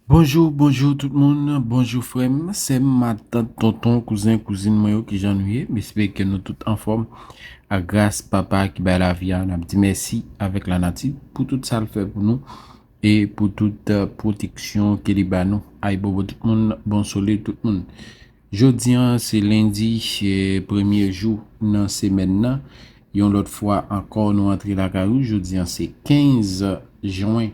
Bonjou bonjou tout moun bonjou frèm sèm matant tonton kouzen kouzin mwen yo kijan nou ye m espere ke nou tout anfòm ak gras papa ki bay lavi a nap di mèsi avèk lanati pou tout sa l fè pou nou e pou tout pwoteksyon ke li ba nou ayibobo tout moun bon sole tout moun Jodi an se lendi premye jou nan semèn nan, yon lòt fwa ankò nou antre lakay ou, jodi an se 15 jwen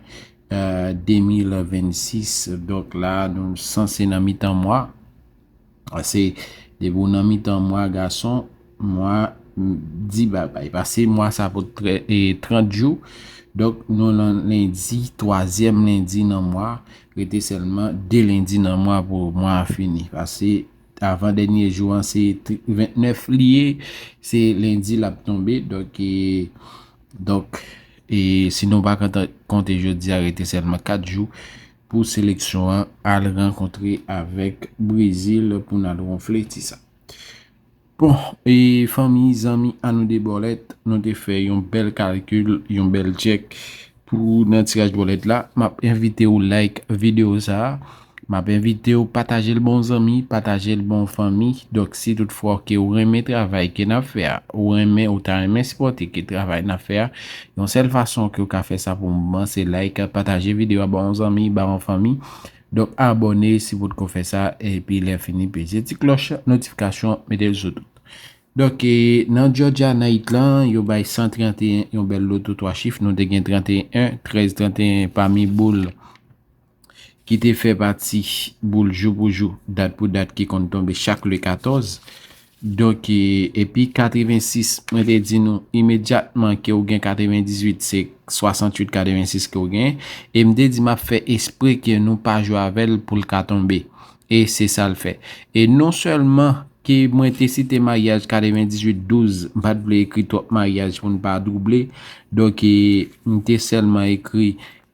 2026 donk la nou sanse nan mitan mwa, se depi ou nan mitan mwa gason. Mwa m di babay. Pase mwa sa pot 30 jou. Donk nou nan lendi, twazyèm lendi nan mwa. Rete sèlman 2 lendi nan mwa pou mwa a fini. Pase avan dènye jou an se 29 li ye. Se lendi l ap tonbe. Donk e, donk e si nou pa ka konte jodi a rete sèlman 4 jou pou seleksyon an al rankontre avèk Brezil pou n al wonfle ti sa. Bon e fanmi, zanmi a nou 2 bòlèt, nou te fè yon bèl kalkil, yon bèl tchèk pou nan tiraj bòlèt la. M ap envite ou like videyo sa a. M ap envite ou pataje l ba w zanmi, pataje l ba w fanmi. Donk si tout fwa ke ou renmen travay ke n ap fè a, ou renmen, ou ta renmen sipòte ke travay n ap fè a, yon sèl fason ke ou ka fè sa pou mwen se like, pataje videyo a ba w zanmi, ba w fanmi. Donk abòne si potko fè sa epi lè fini peze ti klòch notifikasyon metel sou tout. Donk nan Georgia night lan yo bay 131 yon bèl loto 3 chif nou te gen 31 13 31 pami boul ki te fè pati boul jou pou jou dat pou dat ki konn tonbe chak le 14 Donk, epi 86, mwen te di nou, imedyatman ke ou gen 98, se 68, 86 ke ou gen, e m te di m ap fè espre ke nou pa jwe avè l pou l ka tonbe. E se sa l fè. E non sèlman ke mwen te site maryaj 98, 12, m pa t vle ekri twòp maryaj pou n pa double, donk, m te sèlman ekri.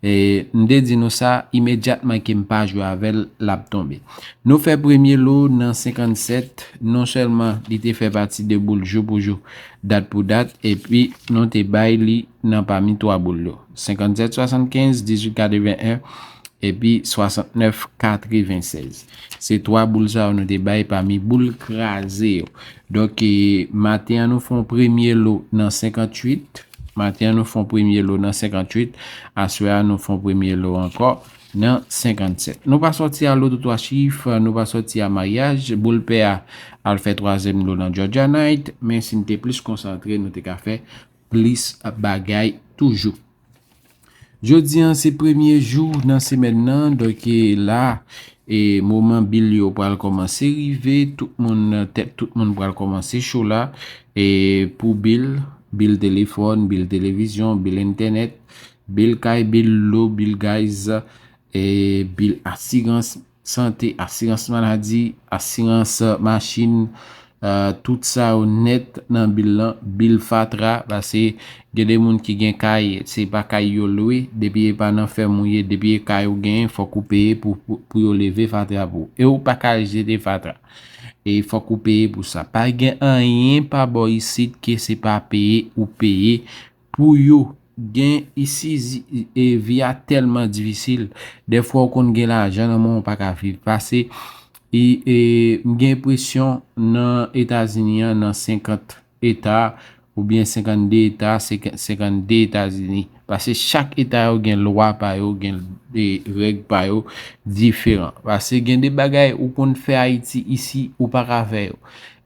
M te di nou sa, imedyatman ke m pa jwe avè l, l ap tonbe. Nou fè premye lo nan 57, non sèlman li te fè pati 2 boul jou pou jou, dat pou dat, epi nou te bay li nan pami 3 boul yo, 57, 75, 18, 81, epi 69, 96. Se 3 boul sa yo nou te bay pami boul kraze yo. Donk, maten an nou fè yon premye lo nan 58. Maten an nou fon premye lo nan 58, aswè a nou fon premye lo ankò nan 57. Nou pa sòti a loto 3 chif, nou pa sòti a maryaj, boul pè a al fè twazyèm lo nan Georgia Night, men si n te plis konsantre nou te ka fè plis bagay toujou. Jodi an se premye jou nan semèn nan donk e la e moman bil yo pral kòmanse rive tout moun tèt tout moun pral kòmanse cho la e pou bil bil telefòn bil televizyon bil entènèt bil kay bil dlo bil gaz e bil asirans sante, asirans maladi, asirans machin, tout sa yo nèt nan bil lan, bil fatra, pase gen de moun ki gen kay, se pa kay yo lwe, depi e pa nan fèm ou ye, depi e kay ou genyen, fòk ou peye pou yo leve fatra pou ou. E ou pa ka jete fatra. E fòk ou peye pou sa. Pa gen anyen pa bò isit ke se pa peye ou peye. Pou yo gen isi vi a telman difisil defwa ou konn gen lajan nan men ou paka viv pase m gen enpresyon nan etazini an nan 50 eta oubyen 52 eta se 52 etazini pase chak eta yo gen lwa pa yo gen reg pa yo diferan pase gen de bagay ou konn fè ayiti isi ou paka fè yo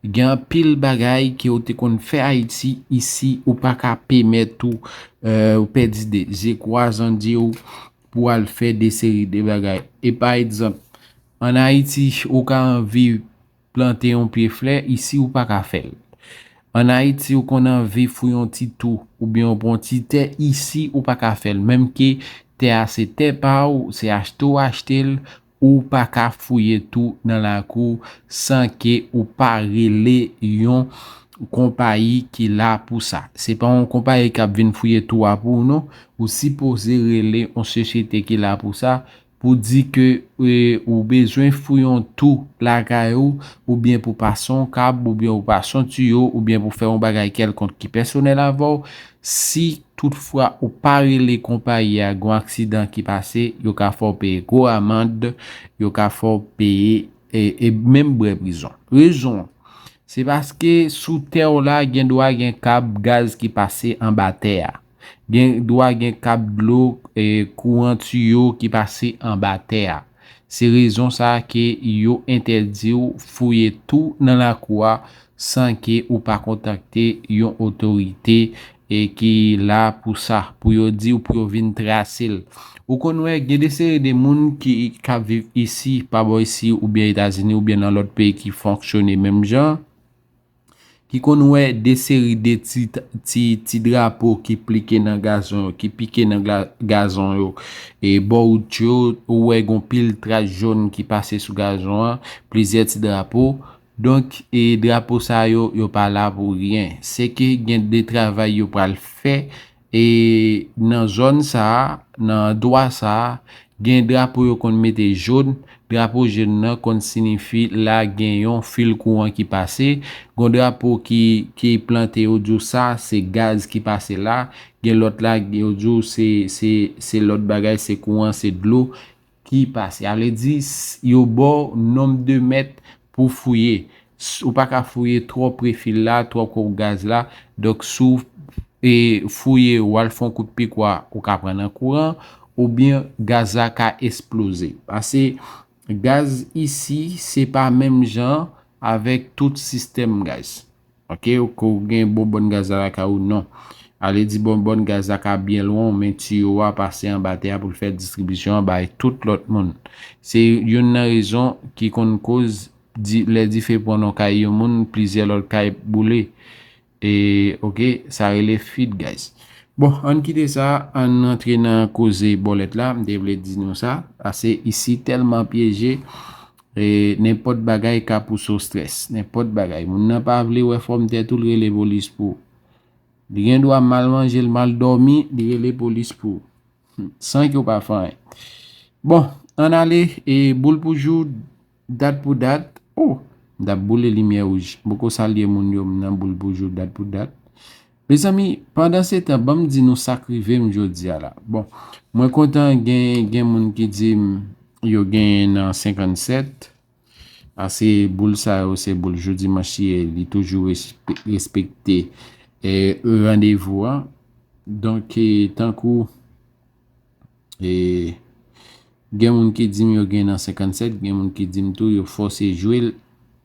Gen anpil bagay ke ou te konn fè Ayiti, isi ou pa ka pemèt ou pèdi de je kwa zan je ou pou al fè de seri de bagay. E pa egzanp, an Ayiti ou ka anvi plante yon pye flè, isi ou pa ka fè l. An Ayiti ou konn anvi fou yon ti tou ou byen ou pran ti tè, isi ou pa ka fè l. Menm ke tè a se tè pa ou, se achte ou achte l, Ou pa ka fouye tou nan lakou san ke ou pa rele yon konpayi ki la pou sa. Se pa yon konpayi kap vin fouye tou a pou ou non. Ou sipoze rele yon sosyete ki la pou sa, pou di ke ou bezwen fouye yon tou lakay ou, oubyen pou pase yon kab, oubyen pou pase yon tiyo, oubyen pou fè yon bagay kèlkonk ki pèsonèl avèw, Si tout fwa ou pa rele konpayi a gon aksidan ki pase yo ka fè w peye gwo amand yo ka fè w peye e menm brè prizon. Rezon an se paske sou tè w la gen dwa gen kab gaz ki pase anba tè a, gen dwa gen kab dlo, kouran tiyo ki pase anba tè a. Se rezon sa ke yo entèdi w fouye tou nan lakou a san ke ou pa kontakte yon otorite e ki la pou sa, pou yo di w pou yo vin trase l. Ou konn wè gen de seri de moun ki kap viv isi, pa bò isi oubyen Etazini oubyen nan lòt peyi ki fonksyone menm jan, Ki konn wè de seri de ti drapo ki plike nan gazon yo, ki pike nan gazon yo. E bò wout yo, ou wè gon pil tras jòn ki pase sou gazon an, plizyè ti drapo. Donk, e drapo sa yo, yo pa la pou ryen. Se ke gen de travay yo pral fè E nan zòn sa a, nan andwa sa a, gen drapo yo konn mete jòn, drapo jòn nan konn sinifi la gen yon fil kouran ki pase, gon drapo ki ki plante yo di w sa se gaz ki pase la, gen lòt la yo di w se se se lòt bagay se kouran se dlo. ki pase. A vle di, yo ba w nonb de mèt pou w fouye. Ou pa ka fouye twò pre fil la, twò pre w gaz la. Donk, si w fouye, w al fè yon kout pikwa, ou ka pran nan kouran, oubyen gaz la ka esploze. Pase, gaz isi, se pa menm jan avèk tout sistèm gaz. Ok ou ko gen bon bòn gaz la lakay ou non. Ale di bon bòn gaz la ka byen lwen w men tiyo a pase anba tè a pou l fè distribisyon an bay tout lòt moun. Se youn nan rezon ki konn koz lè dife pran nan kay yon moun plizyè lòt kay boule. E ok sa rele fuit gaz. Bon ann kite sa ann rantre nan koze bòlèt la m te vle di nou sa pase isi tèlman pyeje. Nenpòt bagay ka pouse w strès. Nenpòt bagay. Moun nan pa vle wè fòm tèt ou, l rele polis pou w. Li gen dwa mal manje, l mal dòmi, li rele polis pou w. San ke w pa fè anyen. Bon, ann ale. E boul pou jou, dat pou dat. O! M t ap boule limyè wouj. M poko salye moun yo, m nan boul pou jou, dat pou dat. Mezanmi pandan se tan banm di nou sak rivem jodia la bon mwen kontan gen gen moun ki dim yo genyen nan 57 a se boul sa yo se boul jou dimanch li ye li toujou respekte e randevou a donk tankou e gen moun ki dim yo gen nan 57 gen moun ki dim tou yo fose jwel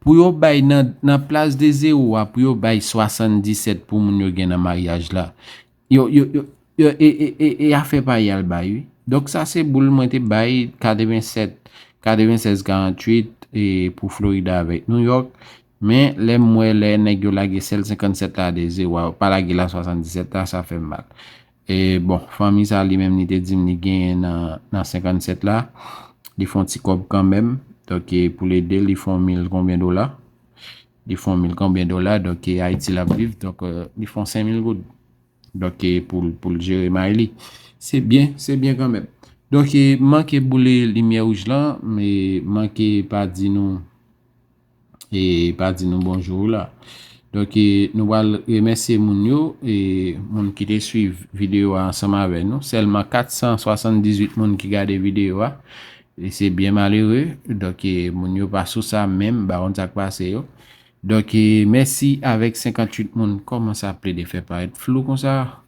Pou yo bay nan nan plas de zero a pou yo bay 77 pou moun yo gen nan maryaj la yo yo yo e e e e afè pa yal bay wi donk sa se boul mwen te bay 87 96 48 e pou Florida avèk New York men lè m wè lè nèg yo lage sèl 57 la de zero a yo pa lage la 77 la sa fè m mal E bon, fanmi sa li menm li te di m li genyen nan 57 la, li fon ti kòb kanmenm, donk e pou l ede l, li fon mil konbyen dola, li fon mil konbyen dola, donk e Ayiti l ap viv, donk li fon 5 mil goud, donk e pou l jere may li. Se byen, se byen kanmenm. Donk e m manke boule limyè wouj lan, m manke pa di nou. e pa di nou bonjou la donk e nou wal remèsye moun yo e moun ki te swiv videyo a ansanm avè nou sèlman 478 moun ki gade videyo a e se byen malere donk e moun yo pa sou sa menm ba konn sak pase yo donk e mèsi avèk 58 moun kòman sa ap plede fè parèt flou konsa.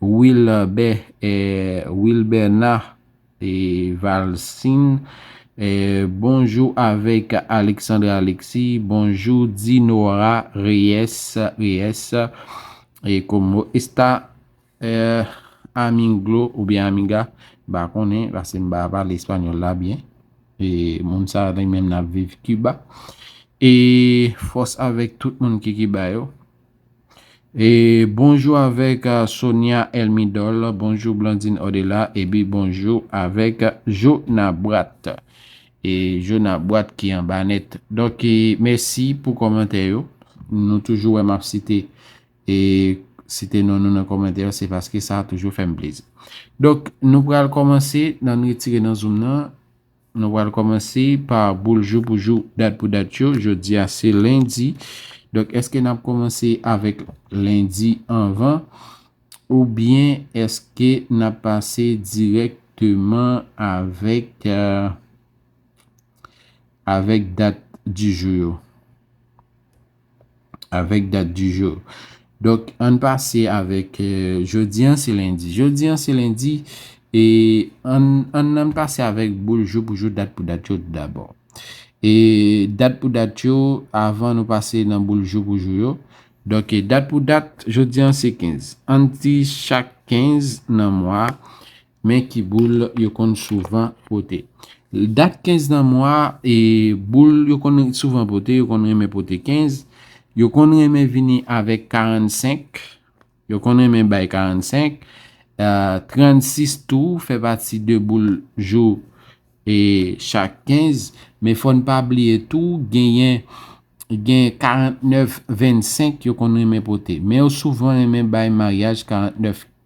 Wilbert Wilberna Valcin Bonjou avèk Alexandre Alexis Bonjou Dinora Reyes Reyes Como esta aminglo oubyen amiga m pa konnen paske m pa pale español la byen moun sa li menm n ap viv Kiba e fòs avèk tout moun ki Kiba yo. E bonjou avèk Sonia Elmidol, bonjou Blandine Odela ebi bonjou avèk Jonabrat. E Jonabrat ki anba nèt. Donk e mèsi pou kòmantè yo. Nou toujou wè map site e site non nou nan kòmantè yo se paske sa toujou fèm plezi. Donk nou pral kòmanse nan retire nan zoom nan Nou pral kòmanse pa boul jou pou jou, dat pou dat yo. Jodi a se lendi. Donk èske n ap kòmanse avèk lendi anvan oubyen èske n ap pase dirèkteman avèk avèk dat di jou yo? Avèk dat di jou. Donk ann pase avèk jodi an se lendi. Jodi an se lendi e ann nan pase avèk boul jou pou jou dat pou dat yo dabò. E dat pou dat yo avan nou pase nan boul jou pou jou yo. Donk e dat pou dat jodi an se 15. Ann di chak 15 nan mwa Men ki boul yo konn souvan pote. Dat 15 nan mwa e boul yo konn souvan pote, yo konn renmen pote 15, yo konn renmen vini avèk 45, yo konn renmen bay 45, 36 tou fè pati de boul jou e chak 15, men fò n pa bliye tou genyen gen 49, 25 yo konn renmen pote. Men yo souvan renmen bay maryaj 49,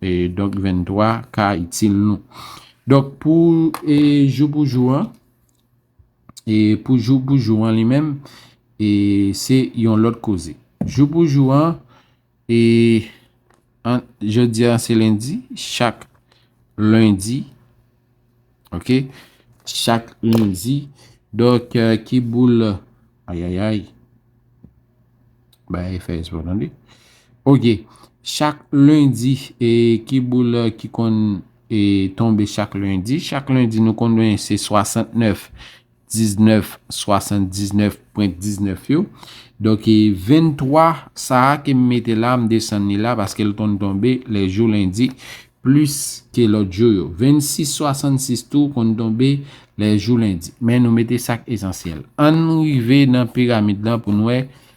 E donk 23 ka itil nou. Donk pou e jou pou jou an. E pou jou pou jou an li menm. E se yon lòt koze. Jou pou jou an. E jodi an se lendi. Chak lendi. Ok chak lendi donk ki boul ayayay bay fè espò tande ok chak lendi e ki boul ki konn e tonbe chak lendi chak lendi nou konn se 69 19, 79 pwent 19 yo. Donk 23 sa a ke m mete la, m desann li la paske l konn tonbe lè jou lendi plis ke lòt jou yo. 26, 66 tou konn tonbe lè jou lendi. Men nou mete sa k esansyèl. Ann rive nan piramid lan pou n wè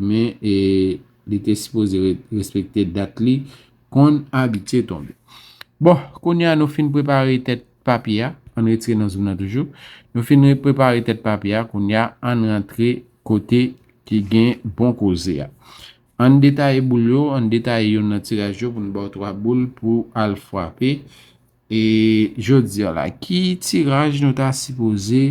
Men e li te sipoze respekte dat li konn abitye tonbe. Bon, kounye a nou fin prepare tèt papye a. An n retire nan zoom nan toujou. Nou fin prepare tèt papye a, kounye a an n rantre kote ki gen bon koze a. An n detaye boul yo, an n detaye youn nan tiraj yo pou n ba w 3 boul pou al fwape. E jodi a la, ki tiraj nou ta sipoze.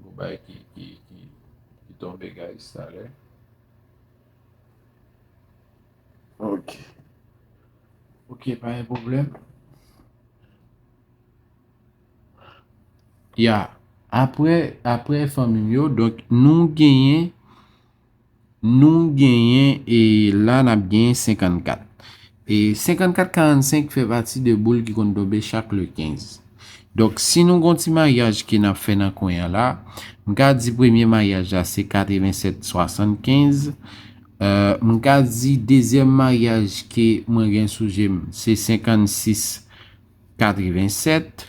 Gon bay ki ki ki ki tonbe guys talè. Ok. Ok pa gen problem. Ya. Apre apre fanmim yo donk nou genyen. Nou genyen e la n ap genyen 54. E 54 45 fè pati de boul ki konn tonbe chak le 15. Donk si nou gon ti maryaj ke n ap fè nan kwen an la, m ka di premye maryaj la se 87 75. M ka di dezyèm maryaj ke mwen gen sou je m se 56 87.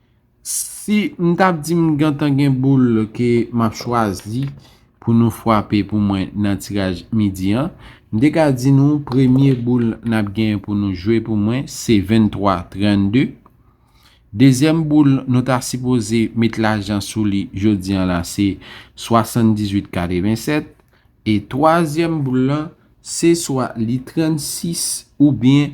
Si m t ap di m gentan gen boul ke m ap chwazi pou nou fwape pou mwen nan tiraj midi an, m te ka di nou premye boul n ap gen pou nou jwe pou mwen se 23 32. Dezyèm boul nou ta sipoze met lajan sou li jodi an la se 78 87. E twazyèm boul lan se swa li 36 oubyen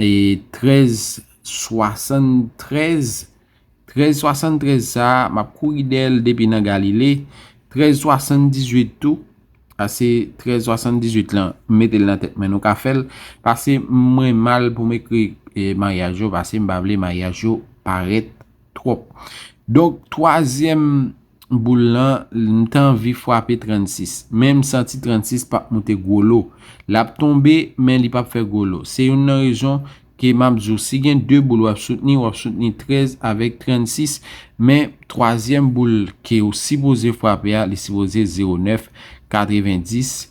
1373 1373 sa a m ap kouri dèyè l depi nan Galile 1378 tou Pase 1378 lan m mete l nan tèt mwen nou ka fè l Pase mwen mal pou m ekri maryaj yo pase m pa vle maryaj yo parèt twòp Donk twazyèm boul lan m t anvi fwape 36 men m santi 36 p ap moute gwo lo l ap tonbe men li p ap fè gwo lo se youn nan rezon ke m ap di w si gen 2 boul w ap soutni w ap soutni 13 avèk 36 men twazyèm boul ke w sipoze fwape a li sipoze 09 90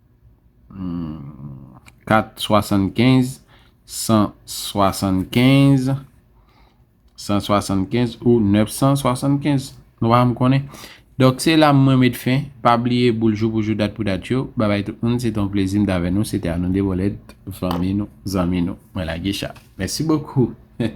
475 175 175 ou 975 Nou pa m konnen Dok se la mwen met fen Pa bliye boul jou pou jou dat pou dat yo Babay tout moun se te yon plezi m t avè nou se te Anonde Bolèt fanmi nou zanmi nou mwen lage cha Mèsi bokou Heh.